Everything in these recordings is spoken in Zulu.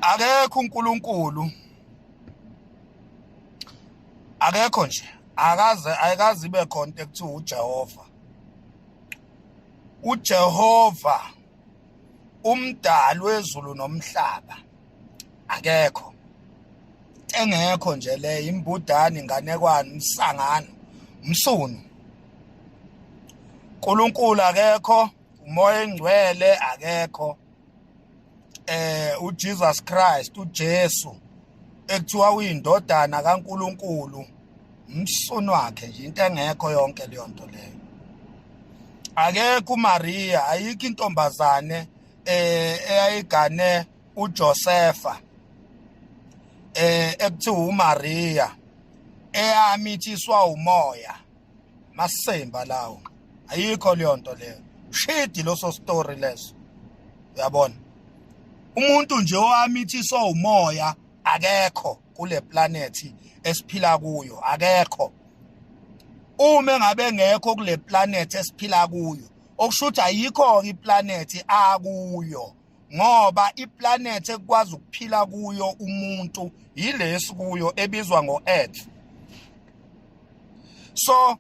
akekho uNkulunkulu akekho nje akaze ayikazi ibe khona into ekuthiwa uJehova uJehova umdali wezulu nomhlaba akekho engekho nje le imbudani inganekwane umsangano umsunu uNkulunkulu akekho umoya engcwele akekho eh uJesus Christ uJesu ekuthiwa uyindodana kaNkuluNkulu umsunu wakhe nje into engekho yonke leyo nto leyo akekho uMaria ayikho intombazane eh eyayigane uJosefa eh ekuthiwa uMaria eyami ithiswa umoya masemba lawo ayikho leyo nto leyo shidi loso story leso uyabona umuntu nje owamithiswa umoya akekho kule planet esiphila kuyo akekho uma engabe ngekho kule planet esiphila kuyo okusho ukuthi ayikho-ke iplanethi akuyo ngoba iplanet ekwazi ukuphila kuyo umuntu yilesi kuyo ebizwa ngo-earth so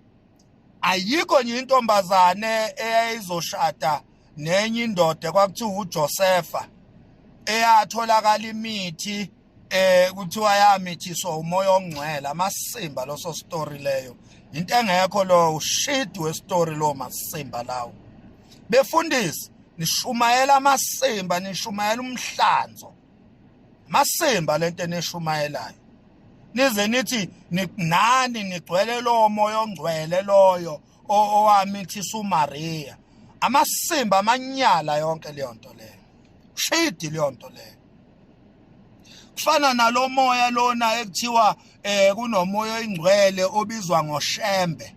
ayikho nje intombazane eyayizoshada nenye indoda kwakuthiwa uJosefa eyatholakala imithi eh kuthiwa yamithiswa umoya ongcwele amasimba loso story leyo into engekho lo shit we story lo masimba lawo befundisi nishumayela amasimba nishumayela umhlanzo masimba lento enishumayelayo nize nithi nani nigcwele lo moya ongcwele loyo owamithisa uMaria amasimba amanyala yonke leyo nto leyo shidi leyo nto leyo kufana nalomoya lona ekuthiwa eh kunomoya oyingcwele obizwa ngoshembe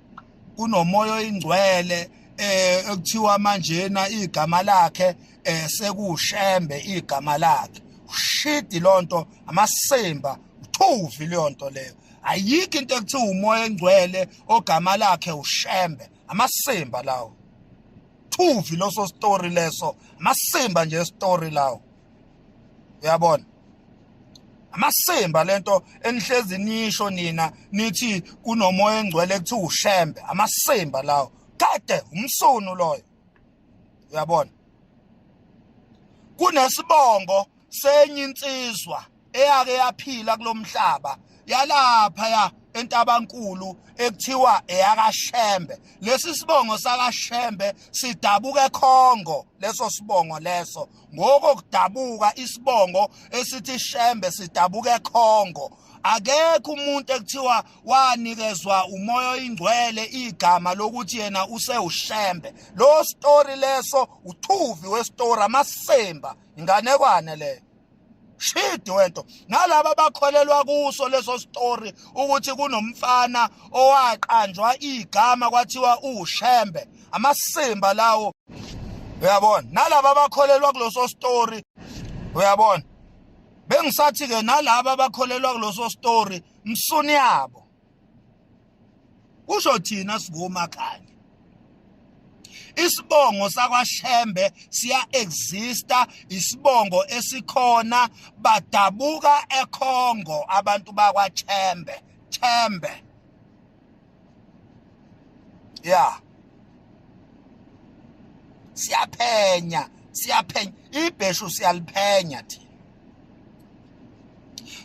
kunomoya oyingcwele eh ekuthiwa manjena igama lakhe eh sekushembe igama lakhe ushidi lonto amasimba uthuvi leyonto leyo ayikho into ekuthiwa umoya engcwele ogama lakhe ushembe amasimba lawo thuvi loso story leso amasimba nje story lawo uyabona amasimba lento enihlezi nisho nina nithi kunomoya engcwele kuthi ushembe amasimba lawo kade umsunu loyo uyabona kunesibongo senye insizwa eyake yaphila kulomhlaba yalapha ya entabankulu ekuthiwa eyakashembe lesi sibongo sakashembe sidabuka ekhongo leso sibongo leso ngoko kudabuka isibongo esithi shembe sidabuka ekhongo akekho umuntu ekuthiwa wanikezwa umoya oyingcwele igama lokuthi yena usewushembe lo story leso uthuvi we story amasemba inganekwane leyo shidi wento nalaba bakholelwa kuso leso story ukuthi kunomfana owaqanjwa igama kwathiwa ushembe amasimba lawo uyabona nalaba bakholelwa kuloso story uyabona bengisathi ke nalaba bakholelwa kuloso story msuni yabo kusho thina singoma khanya isibongo sakwaShembe siya exista isibongo esikhona badabuka eKhongo abantu bakwaChembe Chembe ya siyaphenya siyaphenya ibheshu siyaliphenya thina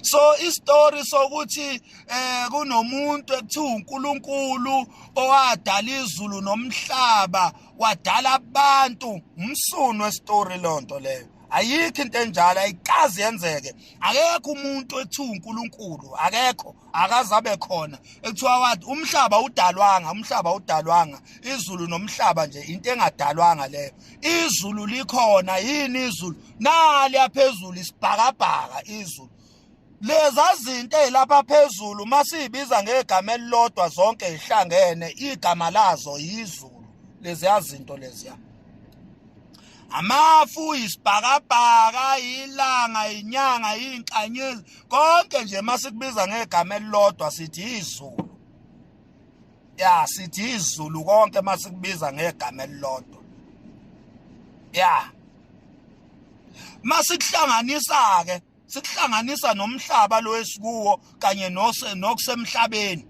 so istory sokuthi eh kunomuntu ekuthiwa uNkulunkulu owadala izulu nomhlaba wadala abantu umsunu westory lonto leyo ayikho into enjalo ayikazi yenzeke akekho umuntu ekuthiwa uNkulunkulu akekho akazabe khona ekuthiwa wathi umhlaba udalwanga umhlaba udalwanga izulu nomhlaba nje into engadalwanga leyo izulu likhona yini izulu nali yaphezulu isibhakabhaka izulu leza zinto ezilapha phezulu masiyibiza ngegama elilodwa zonke ihlangene igama lazo yizulu leziya zinto leziya amafu isibhakabhaka ilanga inyanga inkanyezi konke nje masikubiza ngegama elilodwa sithi izulu ya sithi izulu konke masikubiza ngegama elilodwa ya masikuhlanganisa ke sikuhlanganisa nomhlaba lo esikuwo kanye nose nokusemhlabeni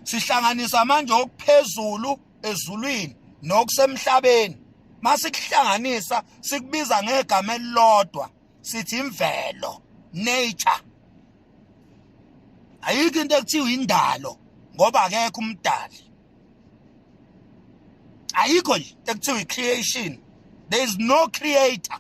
sihlanganisa manje okuphezulu ezulwini nokusemhlabeni masikuhlanganisa sikubiza ngegama elilodwa sithi imvelo nature ayikho into ekuthiwa indalo ngoba akekho umdali ayikho nje into ekuthiwa i-creation there is no creator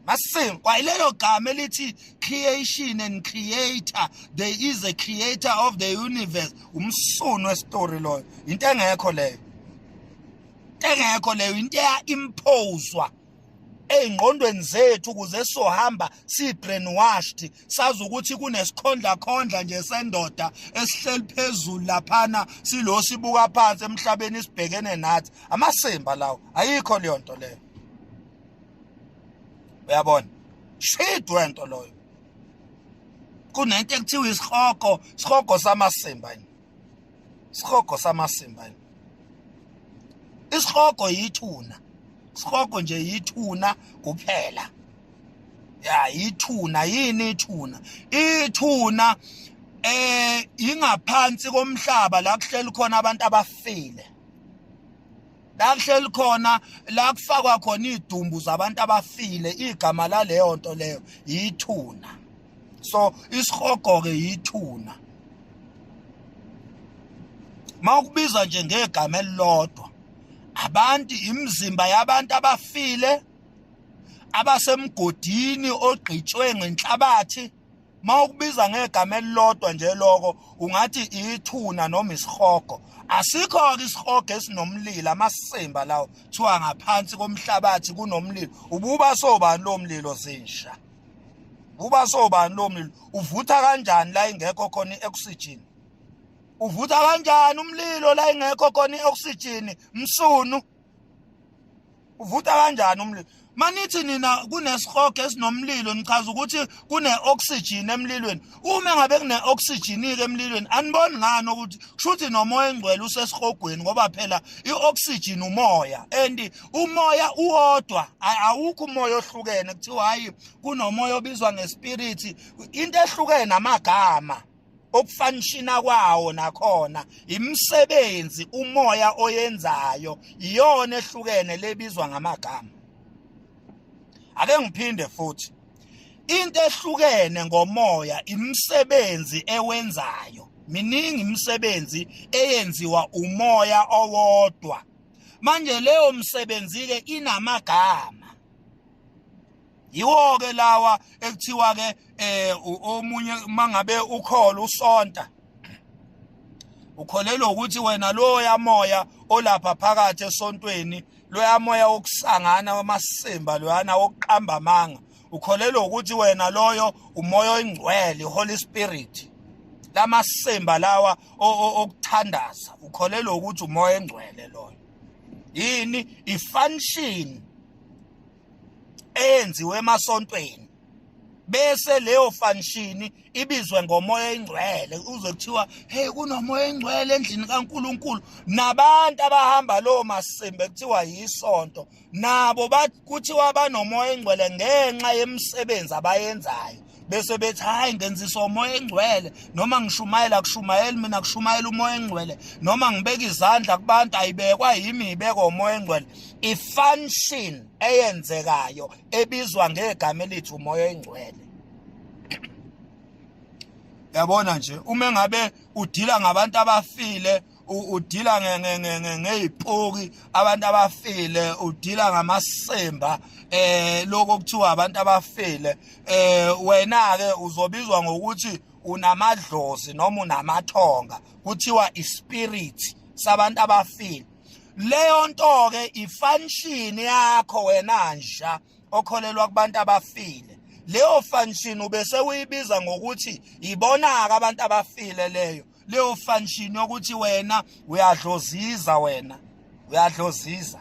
Masim, kwayilelo gama elithi creation and creator, there is a creator of the universe. Umsunu westory loyo. Into engekho leyo. Into engekho leyo, into eya imposwa. ezingqondweni zethu kuze sohamba sibrainwashed sazi ukuthi kunesikhondla khondla nje sendoda esihleli phezulu laphana silo sibuka phansi emhlabeni sibhekene nathi amasimba lawo ayikho leyo nto leyo uyabona shit wento loyo kunento ekuthiwa isihogo isihogo samasimba yini isihogo samasimba isihogo yithuna isihogo nje yithuna kuphela ya yithuna yini ithuna ithuna eh ingaphansi komhlaba la kuhleli khona abantu abafile la kuhleli khona la kufakwa khona idumbu zabantu abafile igama laleyo nto leyo yithuna so isihogo ke yithuna mawukubiza nje ngegama elilodwa abantu imizimba yabantu abafile abasemgodini ogqitshwe ngenhlabathi mawukubiza ngegama elilodwa nje lokho ungathi ithuna noma isihogo asikho ke isihogo esinomlilo amasimba lawo kuthiwa ngaphansi komhlabathi kunomlilo ububa sobani lo mlilo zinsha ububa sobani lo mlilo uvutha kanjani la ingekho khona i-oxygen uvutha kanjani umlilo la ingekho khona i-oxygen msunu uvuta kanjani umlilo manithi nina kunesihogo esinomlilo nichaza ukuthi kune-oxygen emlilweni uma ngabe kune-oxygen-ke emlilweni aniboni ngani ukuthi kusho ukuthi nomoya engcwele usesihogweni ngoba phela i-oxygen umoya and umoya uwodwa awukho umoya ohlukene kuthiwa hhayi kunomoya obizwa ngespiriti into ehlukene amagama ukufanishina kwawo nakhona imisebenzi umoya oyenzayo iyona ehlukene lebizwa ngamagama ake ngiphinde futhi into ehlukene ngomoya imisebenzi ewenzayo miningi imisebenzi eyenziwa umoya owodwa manje leyo msebenzi ke inamagama yiwo ke lawa ekuthiwa ke eh omunye mangabe ukholo usonta ukholelwa ukuthi wena loya moya olapha phakathi esontweni loya moya wokusangana wamasimba loyana wokuqamba amanga ukholelwa ukuthi wena loyo umoya oyingcwele holy spirit lamasimba lawa okuthandaza ukholelwa ukuthi umoya engcwele loyo yini ifunction eyenziwe emasontweni bese leyo function ibizwe ngomoya engcwele uze kuthiwa hey kunomoya engcwele endlini kaNkuluNkulu nabantu abahamba lo masimbe kuthiwa yisonto nabo kuthiwa banomoya engcwele ngenxa yemisebenzi abayenzayo bese bethi hayi ngenziswa umoya engcwele noma ngishumayela kushumayeli mina kushumayela umoya engcwele noma ngibeka izandla kubantu ayibekwa yimi ibekwa umoya engcwele i-function eyenzekayo ebizwa ngegama elithi umoya engcwele yabona nje uma ngabe udila ngabantu abafile udila ngey'poki abantu abafile udila ngamasimba eh lokho kuthiwa abantu abafile eh wena ke uzobizwa ngokuthi unamadlozi noma unamathonga kuthiwa ispirit sabantu abafile leyo nto ke ifunction yakho wena nja okholelwa kubantu abafile leyo function ubese uyibiza ngokuthi ibonaka abantu abafile leyo leyo function yokuthi wena uyadloziza wena uyadloziza